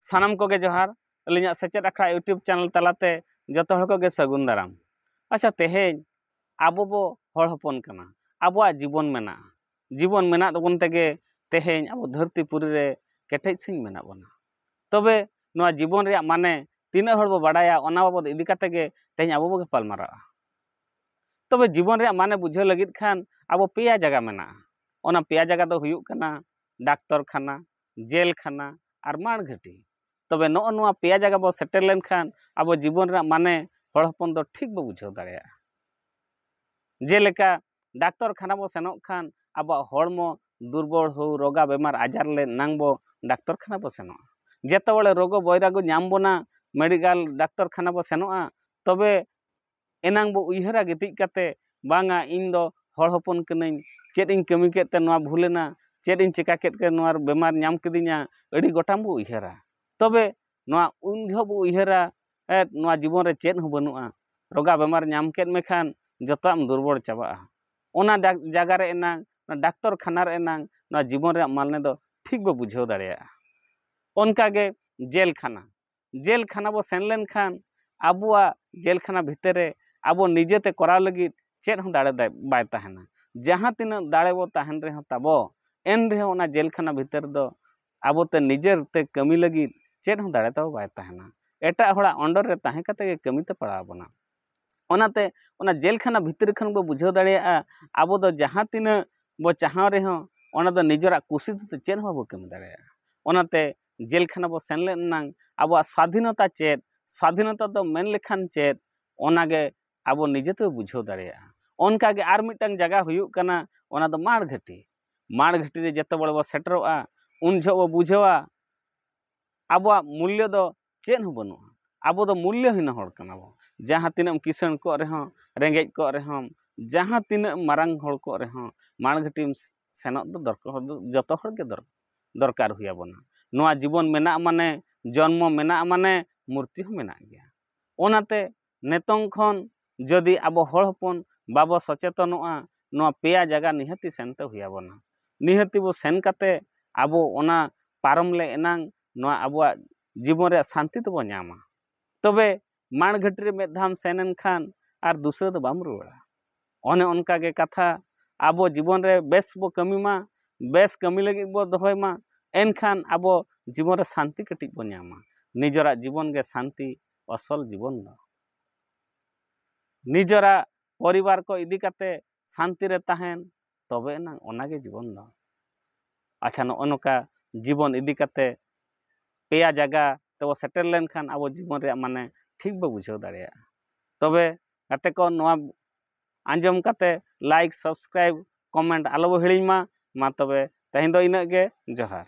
ᱥᱟᱱᱟᱢ ᱠᱚᱜᱮ ᱡᱚᱦᱟᱨ ᱟᱹᱞᱤᱧᱟᱜ ᱥᱮᱪᱮᱫ ᱟᱠᱷᱲᱟ ᱤᱭᱩᱴᱩᱵᱽ ᱪᱮᱱᱮᱞ ᱛᱟᱞᱟᱛᱮ ᱡᱚᱛᱚ ᱦᱚᱲ ᱠᱚᱜᱮ ᱥᱟᱹᱜᱩᱱ ᱫᱟᱨᱟᱢ ᱟᱪᱪᱷᱟ ᱛᱮᱦᱮᱧ ᱟᱵᱚ ᱵᱚ ᱦᱚᱲ ᱦᱚᱯᱚᱱ ᱠᱟᱱᱟ ᱟᱵᱚᱣᱟᱜ ᱡᱤᱵᱚᱱ ᱢᱮᱱᱟᱜᱼᱟ ᱡᱤᱵᱚᱱ ᱢᱮᱱᱟᱜ ᱛᱟᱵᱚᱱ ᱛᱮᱜᱮ ᱛᱮᱦᱮᱧ ᱟᱵᱚ ᱫᱷᱟᱹᱨᱛᱤ ᱯᱩᱨᱤ ᱨᱮ ᱠᱮᱴᱮᱡ ᱥᱟᱺᱦᱤᱡ ᱢᱮᱱᱟᱜ ᱵᱚᱱᱟ ᱛᱚᱵᱮ ᱱᱚᱣᱟ ᱡᱤᱵᱚᱱ ᱨᱮᱭᱟᱜ ᱢᱟᱱᱮ ᱛᱤᱱᱟᱹᱜ ᱦᱚᱲ ᱵᱚ ᱵᱟᱰᱟᱭᱟ ᱚᱱᱟ ᱵᱟᱵᱚᱫ ᱤᱫᱤ ᱠᱟᱛᱮ ᱜᱮ ᱛᱮᱦᱮᱧ ᱟᱵᱚ ᱵᱚ ᱜᱟᱯᱟᱞᱢᱟᱨᱟᱜᱼᱟ ᱛᱚᱵᱮ ᱡᱤᱵᱚᱱ ᱨᱮᱭᱟᱜ ᱢᱟᱱᱮ ᱵᱩᱡᱷᱟᱹᱣ ᱞᱟᱹᱜᱤᱫ ᱠᱷᱟᱱ ᱟᱵᱚ ᱯᱮᱭᱟ ᱡᱟᱭᱜᱟ ᱢᱮᱱᱟᱜᱼᱟ ᱚᱱᱟ ᱯᱮᱭᱟ ᱡᱟᱭᱜᱟ ᱫᱚ ᱦᱩᱭᱩᱜ ᱠᱟᱱᱟ ᱰᱟᱠᱛᱚᱨ ᱠᱷᱟᱱᱟ ᱡᱮᱞ ᱠᱷᱟᱱᱟ ᱟᱨ ᱢᱟᱲ ᱜᱷᱟᱹᱴᱤ ᱛᱚᱵᱮ ᱱᱚᱜᱼᱚ ᱱᱚᱣᱟ ᱯᱮᱭᱟ ᱡᱟᱭᱜᱟ ᱵᱚᱱ ᱥᱮᱴᱮᱨ ᱞᱮᱱᱠᱷᱟᱱ ᱟᱵᱚ ᱡᱤᱵᱚᱱ ᱨᱮᱱᱟᱜ ᱢᱟᱱᱮ ᱦᱚᱲ ᱦᱚᱯᱚᱱ ᱫᱚ ᱴᱷᱤᱠ ᱵᱚᱱ ᱵᱩᱡᱷᱟᱹᱣ ᱫᱟᱲᱮᱭᱟᱜᱼᱟ ᱡᱮᱞᱮᱠᱟ ᱰᱟᱠᱛᱚᱨ ᱠᱷᱟᱱᱟ ᱵᱚᱱ ᱥᱮᱱᱚᱜ ᱠᱷᱟᱱ ᱟᱵᱚᱣᱟᱜ ᱦᱚᱲᱢᱚ ᱫᱩᱨᱵᱚᱞ ᱦᱳᱠ ᱨᱳᱜᱟ ᱵᱤᱢᱟᱨ ᱟᱡᱟᱨ ᱞᱮ ᱮᱱᱟᱝ ᱵᱚ ᱰᱟᱠᱛᱚᱨ ᱠᱷᱟᱱᱟ ᱵᱚᱱ ᱥᱮᱱᱚᱜᱼᱟ ᱡᱚᱛᱚ ᱦᱚᱲ ᱨᱳᱜᱚ ᱵᱚᱭᱨᱟᱜᱚ ᱧᱟᱢ ᱵᱚᱱᱟ ᱢᱮᱰᱤᱠᱮᱞ ᱰᱟᱠᱛᱚᱨ ᱠᱷᱟᱱᱟ ᱵᱚᱱ ᱥᱮᱱᱚᱜᱼᱟ ᱛᱚᱵᱮ ᱮᱱᱟᱝ ᱵᱚ ᱩᱭᱦᱟᱹᱨᱟ ᱜᱤᱛᱤᱡ ᱠᱟᱛᱮᱫ ᱵᱟᱝᱟ ᱤᱧ ᱫᱚ ᱦᱚᱲ ᱦᱚᱯᱚᱱ ᱠᱟᱹᱱᱟᱹᱧ ᱪᱮᱫ ᱤᱧ ᱠᱟᱹᱢᱤ ᱠᱮᱫ ᱛᱮ ᱱᱚᱣᱟ ᱵᱷᱩᱞ ᱮᱱᱟ ᱪᱮᱫ ᱤᱧ ᱪᱤᱠᱟᱹ ᱠᱮᱫ ᱛᱮ ᱱᱚᱣᱟ ᱵᱤᱢᱟᱨ ᱧᱟᱢ ᱠᱤᱫᱤᱧᱟ ᱟᱹᱰᱤ ᱜᱚᱴᱟᱝ ᱵᱚ ᱩᱭᱦᱟᱹᱨᱟ ᱛᱚᱵᱮ ᱱᱚᱣᱟ ᱩᱱ ᱡᱚᱦᱚᱜ ᱵᱚ ᱩᱭᱦᱟᱹᱨᱟ ᱱᱚᱣᱟ ᱡᱤᱵᱚᱱ ᱨᱮ ᱪᱮᱫ ᱦᱚᱸ ᱵᱟᱹᱱᱩᱜᱼᱟ ᱨᱳᱜᱟ ᱵᱤᱢᱟᱨ ᱧᱟᱢ ᱠᱮᱫ ᱢᱮᱠᱷᱟᱱ ᱡᱚᱛᱚᱣᱟᱜ ᱮᱢ ᱫᱩᱨᱵᱚᱞ ᱪᱟᱵᱟᱜᱼᱟ ᱚᱱᱟ ᱡᱟᱭᱜᱟ ᱨᱮ ᱮᱱᱟᱝ ᱰᱟᱠᱛᱚᱨ ᱠᱷᱟᱱᱟ ᱨᱮ ᱮᱱᱟᱝ ᱱᱚᱣᱟ ᱡᱤᱵᱚᱱ ᱨᱮᱭᱟᱜ ᱢᱟᱱᱮ ᱫᱚ ᱴᱷᱤᱠ ᱵᱚ ᱵᱩᱡᱷᱟᱹᱣ ᱫᱟᱲᱮᱭᱟᱜᱼᱟ ᱚᱱᱠᱟᱜᱮ ᱡᱮᱞ ᱠᱷᱟᱱᱟ ᱡᱮᱞ ᱠᱷᱟᱱᱟ ᱵᱚᱱ ᱥᱮᱱ ᱞᱮᱱᱠᱷᱟᱱ ᱟᱵᱚᱣᱟᱜ ᱡᱮᱞ ᱠᱷᱟᱱᱟ ᱵᱷᱤᱛᱤᱨ ᱨᱮ ᱟᱵᱚ ᱱᱤᱡᱮᱛᱮ ᱠᱚᱨᱟᱣ ᱞᱟᱹᱜᱤᱫ ᱪᱮᱫ ᱦᱚᱸ ᱫᱟᱲᱮ ᱵᱟᱭ ᱛᱟᱦᱮᱱᱟ ᱡᱟᱦᱟᱸ ᱛᱤᱱᱟᱹᱜ ᱫᱟᱲᱮ ᱵᱚᱱ ᱛᱟᱦᱮᱱ ᱨᱮᱦᱚᱸ ᱛᱟᱵᱚ ᱮᱱ ᱨᱮᱦᱚᱸ ᱚᱱᱟ ᱡᱮᱞ ᱠᱷᱟᱱᱟ ᱵᱷᱤᱛᱤᱨ ᱨᱮᱫᱚ ᱟᱵᱚᱛᱮ ᱱᱤᱡᱮᱛᱮ ᱠᱟᱹᱢᱤ ᱞᱟᱹᱜᱤᱫ ᱪᱮᱫ ᱦᱚᱸ ᱫᱟᱲᱮ ᱛᱟᱵᱚ ᱵᱟᱭ ᱛᱟᱦᱮᱱᱟ ᱮᱴᱟᱜ ᱦᱚᱲᱟᱜ ᱚᱱᱰᱚᱨ ᱨᱮ ᱛᱟᱦᱮᱸ ᱠᱟᱛᱮᱫ ᱜᱮ ᱠᱟᱹᱢᱤᱛᱮ ᱯᱟᱲᱟᱣ ᱵᱚᱱᱟ ᱚᱱᱟᱛᱮ ᱚᱱᱟ ᱡᱮᱞ ᱠᱷᱟᱱᱟ ᱵᱷᱤᱛᱤᱨ ᱠᱷᱚᱱ ᱵᱚᱱ ᱵᱩᱡᱷᱟᱹᱣ ᱫᱟᱲᱮᱭᱟᱜᱼᱟ ᱟᱵᱚ ᱫᱚ ᱡᱟᱦᱟᱸ ᱛᱤᱱᱟᱹᱜ ᱵᱚᱱ ᱪᱟᱦᱟᱣ ᱨᱮᱦᱚᱸ ᱚᱱᱟ ᱫᱚ ᱱᱤᱡᱮᱨᱟᱜ ᱠᱩᱥᱤ ᱛᱮᱫᱚ ᱪᱮᱫ ᱦᱚᱸ ᱵᱟᱵᱚᱱ ᱠᱟᱹᱢᱤ ᱫᱟᱲᱮᱭᱟᱜᱼᱟ ᱚᱱᱟᱛᱮ ᱡᱮᱞ ᱠᱷᱟᱱᱟ ᱵᱚ ᱥᱮᱱ ᱞᱮᱱ ᱮᱱᱟᱝ ᱟᱵᱚᱣᱟᱜ ᱥᱟᱫᱷᱤᱱᱚᱛᱟ ᱪᱮᱫ ᱥᱟᱫᱷᱤᱱᱚᱛᱟ ᱫᱚ ᱢᱮᱱ ᱞᱮᱠᱷᱟᱱ ᱪᱮᱫ ᱚᱱᱟ ᱜᱮ ᱟᱵᱚ ᱱᱤᱡᱮ ᱛᱮᱵᱚ ᱵᱩᱡᱷᱟᱹᱣ ᱫᱟᱲᱮᱭᱟᱜᱼᱟ ᱚᱱᱠᱟ ᱜᱮ ᱟᱨ ᱢᱤᱫᱴᱟᱝ ᱡᱟᱭᱜᱟ ᱦᱩᱭᱩᱜ ᱠᱟᱱᱟ ᱚᱱᱟ ᱫᱚ ᱢᱟᱬ ᱜᱷᱟᱹᱴᱤ ᱢᱟᱬ ᱜᱷᱟᱹᱴᱤ ᱨᱮ ᱡᱚᱛᱚ ᱦᱚᱲ ᱵᱚ ᱥᱮᱴᱮᱨᱚᱜᱼᱟ ᱩᱱ ᱡᱚᱦᱚᱜ ᱵᱚ ᱵᱩᱡᱷᱟᱹᱣᱟ ᱟᱵᱚᱣᱟᱜ ᱢᱩᱞᱞᱚ ᱫᱚ ᱪᱮᱫ ᱦᱚᱸ ᱵᱟᱹᱱᱩᱜᱼᱟ ᱟᱵᱚ ᱫᱚ ᱢᱩᱞᱞᱚ ᱦᱤᱱᱟᱹ ᱦᱚᱲ ᱠᱟᱱᱟ ᱵᱚ ᱡᱟᱦᱟᱸ ᱛᱤᱱᱟᱹᱜ ᱮᱢ ᱠᱤᱥᱟᱹᱬ ᱠᱚᱜ ᱨᱮᱦᱚᱸ ᱨᱮᱸᱜᱮᱡ ᱠᱚᱜ ᱨᱮᱦᱚᱸᱢ ᱡᱟᱦᱟᱸ ᱛᱤᱱᱟᱹᱜ ᱢᱟᱨᱟᱝ ᱦᱚᱲ ᱠᱚᱜ ᱨᱮᱦᱚᱸ ᱢᱟᱬ ᱜᱷᱟᱹᱴᱤᱢ ᱥᱮᱱᱚᱜ ᱫᱚ ᱫᱚᱨᱠᱟᱨ ᱫᱚ ᱡᱚᱛᱚ ᱦᱚᱲ ᱜᱮ ᱫᱚᱨᱠᱟᱨ ᱫᱚᱨᱠᱟᱨ ᱦᱩᱭ ᱟᱵᱚᱱᱟ ᱱᱚᱣᱟ ᱡᱤᱵᱚᱱ ᱢᱮᱱᱟᱜ ᱢᱟᱱᱮ ᱡᱚᱱᱢᱚ ᱢᱮᱱᱟᱜ ᱢᱟᱱᱮ ᱢᱩᱨᱛᱤ ᱦᱚᱸ ᱢᱮᱱᱟᱜ ᱜᱮᱭᱟ ᱚᱱᱟᱛᱮ ᱱᱤᱛᱚᱝ ᱠᱷᱚᱱ ᱡᱩᱫᱤ ᱟᱵᱚ ᱦᱚᱲ ᱦᱚᱯᱚᱱ ᱵᱟᱵᱚ ᱥᱚᱪᱮᱛᱚᱱᱚᱜᱼᱟ ᱱᱚᱣᱟ ᱯᱮᱭᱟ ᱡᱟᱭᱜᱟ ᱱᱤᱦᱟᱹᱛᱤ ᱥᱮᱱᱛᱮ ᱦᱩᱭ ᱟᱵᱚᱱᱟ ᱱᱤᱦᱟᱹᱛᱤ ᱵᱚ ᱥᱮᱱ ᱠᱟᱛᱮ ᱟᱵᱚ ᱚᱱᱟ ᱯᱟᱨᱚᱢ ᱞᱮ ᱮᱱᱟᱝ ᱱᱚᱣᱟ ᱟᱵᱚᱣᱟᱜ ᱡᱤᱵᱚᱱ ᱨᱮᱭᱟᱜ ᱥᱟᱱᱛᱤ ᱫᱚᱵᱚ ᱧᱟᱢᱟ ᱛᱚᱵᱮ ᱢᱟᱲ ᱜᱷᱟᱹᱴᱤ ᱨᱮ ᱢᱤᱫ ᱫᱷᱟᱣᱮᱢ ᱥᱮᱱ ᱞᱮᱱᱠᱷᱟᱱ ᱟᱨ ᱫᱩᱥᱨᱟᱹ ᱫᱚ ᱵᱟᱢ ᱨᱩᱣᱟᱹᱲᱟ ᱚᱱᱮ ᱚᱱᱠᱟ ᱜᱮ ᱠᱟᱛᱷᱟ ᱟᱵᱚ ᱡᱤᱵᱚᱱ ᱨᱮ ᱵᱮᱥ ᱵᱚ ᱠᱟᱹᱢᱤ ᱢᱟ ᱵᱮᱥ ᱠᱟᱹᱢᱤ ᱞᱟᱹᱜᱤᱫ ᱵᱚ ᱫᱚᱦᱚᱭ ᱢᱟ ᱮᱱᱠᱷᱟᱱ ᱟᱵᱚ ᱡᱤᱵᱚᱱ ᱨᱮ ᱥᱟᱱᱛᱤ ᱠᱟᱹᱴᱤᱡ ᱵᱚᱱ ᱧᱟᱢᱟ ᱱᱤᱡᱮᱨᱟᱜ ᱡᱤᱵᱚᱱ ᱜᱮ ᱥᱟᱱᱛᱤ ᱟᱥᱚᱞ ᱡᱤᱵᱚᱱ ᱫᱚ ᱱᱤᱡᱮᱨᱟᱜ ᱯᱚᱨᱤᱵᱟᱨ ᱠᱚ ᱤᱫᱤ ᱠᱟᱛᱮᱫ ᱥᱟᱱᱛᱤ ᱨᱮ ᱛᱟᱦᱮᱱ ᱛᱚᱵᱮ ᱮᱱᱟᱝ ᱚᱱᱟᱜᱮ ᱡᱤᱵᱚᱱ ᱫᱚ ᱟᱪᱪᱷᱟ ᱱᱚᱜᱼᱚ ᱱᱚᱝᱠᱟ ᱡᱤᱵᱚᱱ ᱤᱫᱤ ᱠᱟᱛᱮᱫ ᱯᱮᱭᱟ ᱡᱟᱭᱜᱟ ᱛᱮᱵᱚᱱ ᱥᱮᱴᱮᱨ ᱞᱮᱱᱠᱷᱟᱱ ᱟᱵᱚ ᱡᱤᱵᱚᱱ ᱨᱮᱭᱟᱜ ᱢᱟᱱᱮ ᱴᱷᱤᱠ ᱵᱚᱱ ᱵᱩᱡᱷᱟᱹᱣ ᱫᱟᱲᱮᱭᱟᱜᱼᱟ ᱛᱚᱵᱮ ᱜᱟᱛᱮ ᱠᱚ ᱱᱚᱣᱟ ᱟᱸᱡᱚᱢ ᱠᱟᱛᱮᱫ ᱞᱟᱭᱤᱠ ᱥᱟᱵᱥᱠᱨᱟᱭᱤᱵᱽ ᱠᱚᱢᱮᱱᱴ ᱟᱞᱚ ᱵᱚᱱ ᱦᱤᱲᱤᱧ ᱢᱟ ᱢᱟ ᱛᱚᱵᱮ ᱛᱮᱦᱮᱧ ᱫᱚ ᱤᱱᱟᱹᱜ ᱜᱮ ᱡᱚᱦᱟᱨ